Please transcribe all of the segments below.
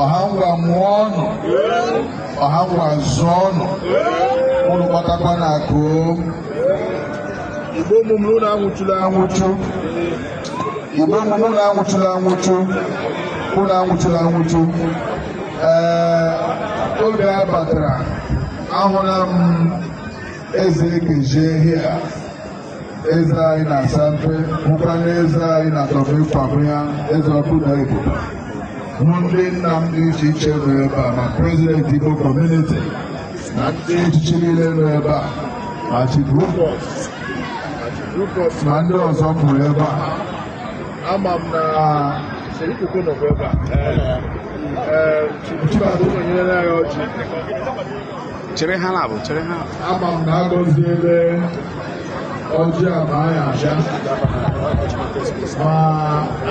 ọha ngwa mụọ nụ ọha ngwa zụọ nụ ụnụ kpatakwa na akụ igbo ụmụ m ụnụ anwụchula anwụchu igbo ụmụ m ụnụ anwụchula anwụchu ụnụ anwụchula anwụchu ee oge a batara ahụla m eze ekezie hia eze anyị na asampe bụkwa eze anyị na atomic kwabenya eze ọkụ daa ibube ma ndị nna m dị iche iche nọ ebe a ma prezidenti igbo kọmuniti na ndị echichi niile nọ ebe a ma chief rupert ma ndị ọzọ nọrọ ebe a ama m na serikoko nọ ebe a chibadụ nyere anyị ọjị chere ha na-abụ chere ha ama m na agọziele ọjị a ma anyị abịa ma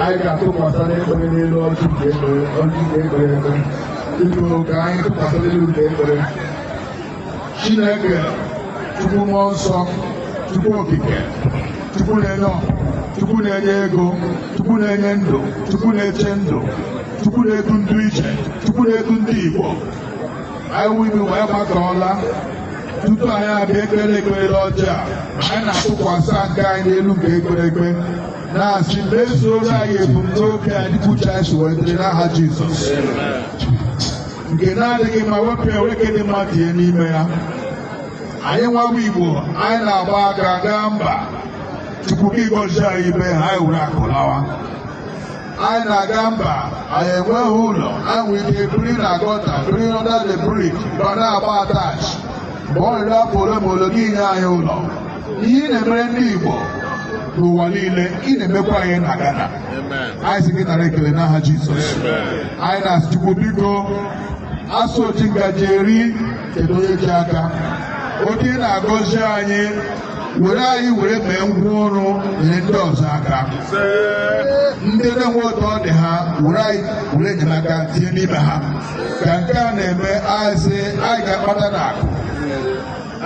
anyị ga-atụkwasị ekpere n'elu ọjị nke ekpere ọjị nke e kpere ekpe ịbụ ka anyị tụkwasị n'elu nke ekpere chineke chukwu mmụọ nsọ chukwu okike chukwu na-enye ọkụ chukwu na-enye ego chukwu na-enye ndụ chukwu na-eche ndụ chukwu na-edu ndị ichie chukwu na-edu ndị igbo anyị wuru wee gbakọọla tupu anyị abịa ekpeele ekpere l'ọjị a anyị na-atụkwasị nke anyị n'elu nke e kpere ekpe na-asị mezuoro anyị ebumnobi anyị kwuchaa anyị sị ya dịrị n'aha Jizọs nke na-adịghị mma wepụ ya were nke dị mma tinye n'ime ya anyị nwa wụ Igbo anyị na-agba aka gaa mba Chukwu gị gọzie anyị ebe ahụ anyị were akụ lawa anyị na-aga mba anyị enweghị ụlọ anyị nwere ike biri na gọta biri under the bridge ma na-agba attach mgbe ọ rịrị afọ ole ma ole gị nye anyị ụlọ ihe ị na-emere ndị Igbo n'ụwa niile ị na-emekwa anyị na Ghana anyị sị gị nara ekele n'aha Jizọs anyị na-asị Chukwu biko a sị oji ngaji eri cheta onye ji aka oge ị na-agọzi anyị were anyị were mee ngwa ọrụ nyere ndị ọzọ aka ndị na-enweghị otu ọ dị ha were anyị were enyemaka tinye n'ime ha ka nke a na-eme anyị sị anyị ga-akpata na akụ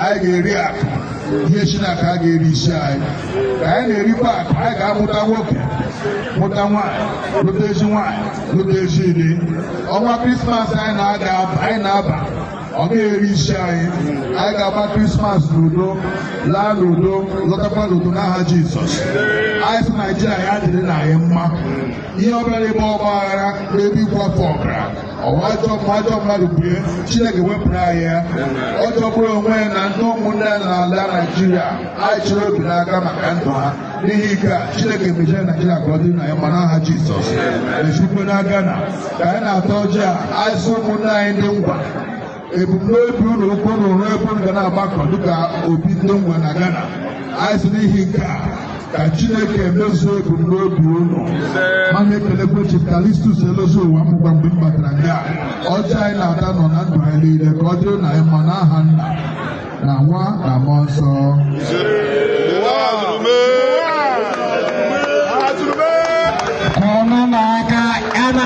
anyị ga-eri akụ ihe shi n'akụ agaghị eri isi anyị ka anyị na-erikwa akụ anyị ga-amụta nwoke mụta nwaanyị lụta ezi nwaanyị lụta ezi di ọnwa krismas anyị na-aga anyị na-aba ọ gaghị eri isi anyị anyị ga-agba krismas n'udo laa n'udo lọtakwa n'udo n'aha jizọs anyị sị naijiria ya dịrị na anyị mma ihe ọbụla n'ebe ọgba aghara n'ebe ịkwafu ọbara ọ wụ ajọ mmụọ ajọ mmadụ bue chineke wepụrụ anyị ya ọ jọgburu onwe ya na ndị ụmụnne ya n'ala naijiria anyị chịrị obi n'aka maka ndụ ha n'ihi nke a chineke mejie naijiria ka ọ dịrị na anyị mma n'aha jizọs mejikwe na gana ka anyị na-ata ọjị a anyị sị ụmụnne anyị ndị ngwa ebumnobi unu wụ ka unu rụọ ebe unu ga na-agbakọ dịka obi ndị ngwa na gana anyị sị n'ihi nke a ka chineke mezuo ebumnobi unu ma na-ekelekwe chief callistus elozieuwa mụgwa mgbe m batara nga ọjị anyị na-ata nọ na ndụ anyị niile ka ọ dịrị na anyị mma n'aha nna na nwa na mmụọ nsọ kụọnụ aka ana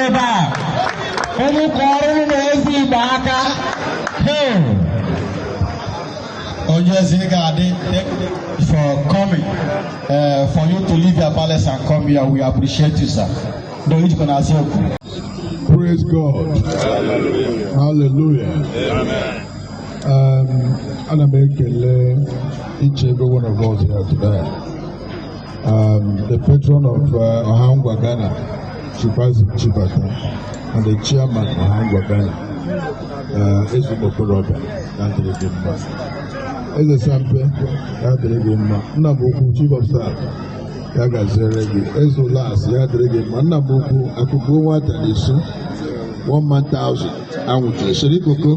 ebe a unu kụọrọnụ eze igbo aka onye eze ga-adị for coming uh, for you to leave your palace and come here we appreciate you sir Praise God. Hallelujah. Um, ana m ekele each and every one of us here today. Um, the patron of uh, Ohangwa Ghana, Chibazi Chibata, and the chairman of Ohangwa Ghana, uh, Ezigbo Koroba, ya dịrị gị mma. Eze Sampe, ya dịrị gị mma, Nna m ukwu Chief of Staff, ya gaziere gị eze las ya dịrị gị mma nna m ukwu akụkụ nwata na-eso one man thousand anwụchula sir ikoko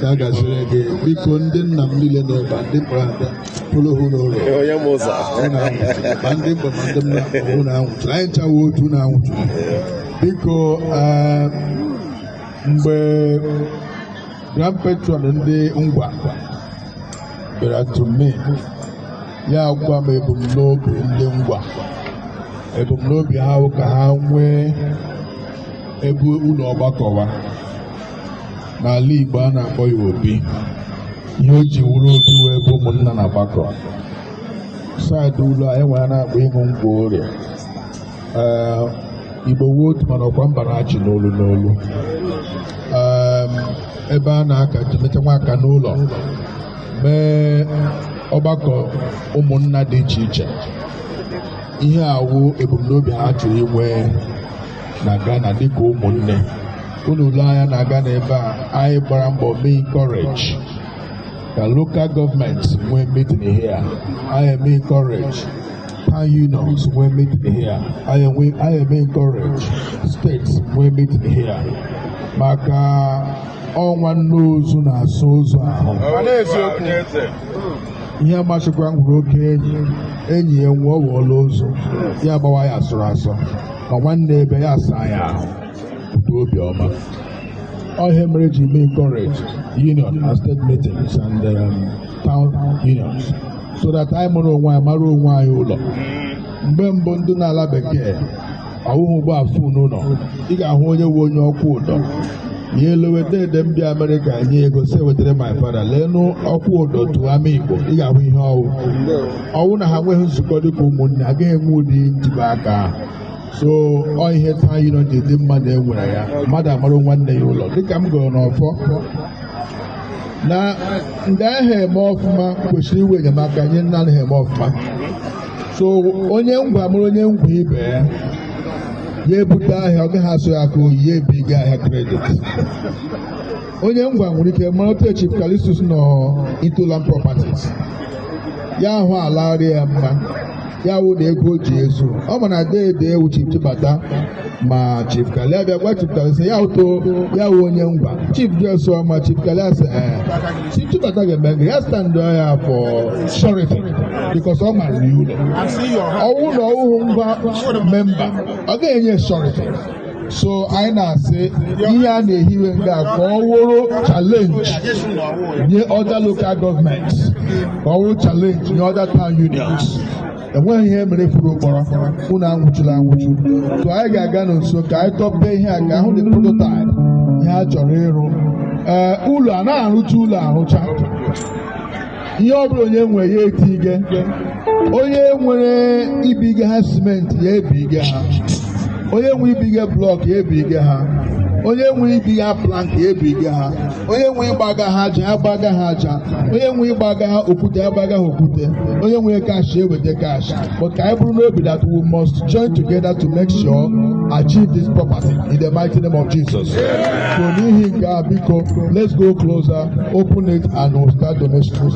ya gaziere gị biko ndị nna m niile nọ ebe a, ndị kpọrọ ada pụrụ hụ n'ụlọ onye m ụzọ unu anwụchula ma ndị mpa ma ndị mma unu anwụchula anyị ncha wụ otu unu anwụchula biko eh, mgbe grand patron ndị ngwa bịara to me ya agwa m ebumnobi ndị ngwa ebumnobi ha wụ ka ha nwee ebe ụlọ ọgbakọwa n'ala Igbo a na-akpọ ya obi ihe o ji wụrụ obi wụ ebe ụmụnna na-agbakọ side ụlọ anyị nwere a na-akpọ ihu ngwuru Igbo wụ otu mana ọkwa mba na-achị n'olu n'olu ebe a na-aka jimeta nwa aka n'ụlọ mee ọgbakọ ụmụnna dị iche iche ihe a wụ ebumnobi ha chọrọ inwe na Ghana dịka ụmụnne unu lee anya na Ghana ebe a anyị gbara mbọ mee encourage ka lokal gọọmenti nwee meeting here anyị eme encourage town unions nwee meeting here anyị enwe- anyị eme encourage steeti nwee meeting here maka ọ nwanne ozu na-asa ozu ahụ ihe masịkwa gị wụrụ oke enyi enyi ya nwụọ wụọla ozu ya gbawa ya asọrọ asọ ma nwanne abịa asaa ya ahụ pụta obiọma ọ ihe mere e ji mee encourage union and state meetings and um, town unions so that anyị mụrụ onwe anyị mara onwe anyị ụlọ mgbe mbụ ndị n'ala bekee ọ wụhụ ụgbọ afụ n'ụlọ ị ga-ahụ onye nwe onye ọkwụ ụdọ ya elowe dede m bi amerịka nye ego sị wetara my father leenụ ọkwụ ụdọ tụọ ama igbo ị ga-ahụ ihe ọ wụ ọ wụ na ha nweghị nzukọ dịka ụmụnne agaghị enwe ụdị njikọ aka ahụ so ọ ihe taa yiri ji dị mmadụ enwere ya mmadụ amarụ nwanne ya ụlọ dịka m gụrụ n'ọfọ na ndị ahụ eme ọfụma kwesịrị iwe enyemaka nye ndị anaghị eme ọfụma so onye ngwa mụrụ onye ngwa ibe ya ya ebute ahịa ọ gaghị asụ ya aka oyi ya ebiga ahịa credit onye ngwa nwere ike mara otu Chief Calistus nọ into land properties ya ahụ ala arị ya mma ya wụ na ego o ji ezu ọ ma na dede wụ Chief Chibata ma chief kali abịa gwa chief kali sị ya ụtụ ya wụ onye ngwa chief jesu ma chief kali asị ee chief chibata ga-eme gịnị ya standụ ya for surety because ọ mara ya ụlọ ọ wụ na ọ wụhụ ngwa member ọ ga-enye surety so anyị na-asị ihe a na-ehiwe nga a ka ọ wụrụ challenge nye other local government ka ọ wụrụ challenge nye other town unions enweghị ihe mere furu ụkpọrọ unu anwụchula anwụchu so anyị ga-aga n'nso ka anyị tọpee ihe a ka a hụ the prototype ihe a chọrọ ịrụ ee ụlọ a na-arụcha ụlọ arụcha ihe ọ bụla onye nwe ya etige onye nwere ibiga ha cement ya ebiga ha onye nwe ibiga block ya ebiga ha onye nwe ibiga plank ya ebiga ha onye nwe ịgbaga ha aja ya gbaga ha aja onye nwe ịgbaga ha okwute ya gbaga ha okwute onye nwe cash ya eweta cash but ka anyị buru n'obi that we must join together to make sure achieve this property in the mighty name of Jesus so n'ihi nke a biko let's go closer open it and we'll start donations.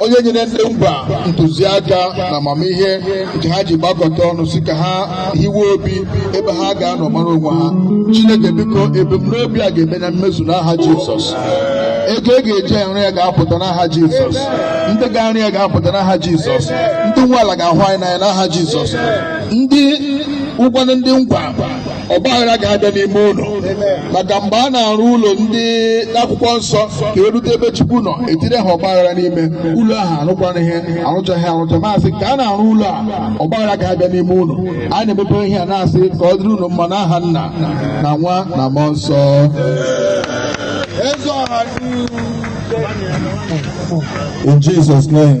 onye nyere ndị ngwa ntụziaka na amamihe nke ha ji gbakọta ọnụ sị ka ha hiwe obi ebe ha ga-anọ mara onwe ha chineke biko ebumnobi a ga-eme na mmezu n'aha jizọs ego a ga-eji arụ ya ga-apụta n'aha jizọs ndị ga-arụ ya ga-apụta n'aha jizọs ndị nwe ala ga-ahụ anyị n'anya n'aha jizọs ndị ụkwa na ndị ngwa ọgbaghara agaghị abịa n'ime unu maka mgbe a na-arụ ụlọ ndị n'akwụkwọ nsọ ka e rute ebe Chukwu nọ etire ha ọgbaghara n'ime ụlọ ahụ arụkwara ihe arụchaghị arụcha ma asị ka a na-arụ ụlọ a ọgbaghara agaghị abịa n'ime unu a na-emepe ihe a na-asị ka ọ dịrị unu mma n'aha nna na nwa na mmụọ nsọ In Jesus' name.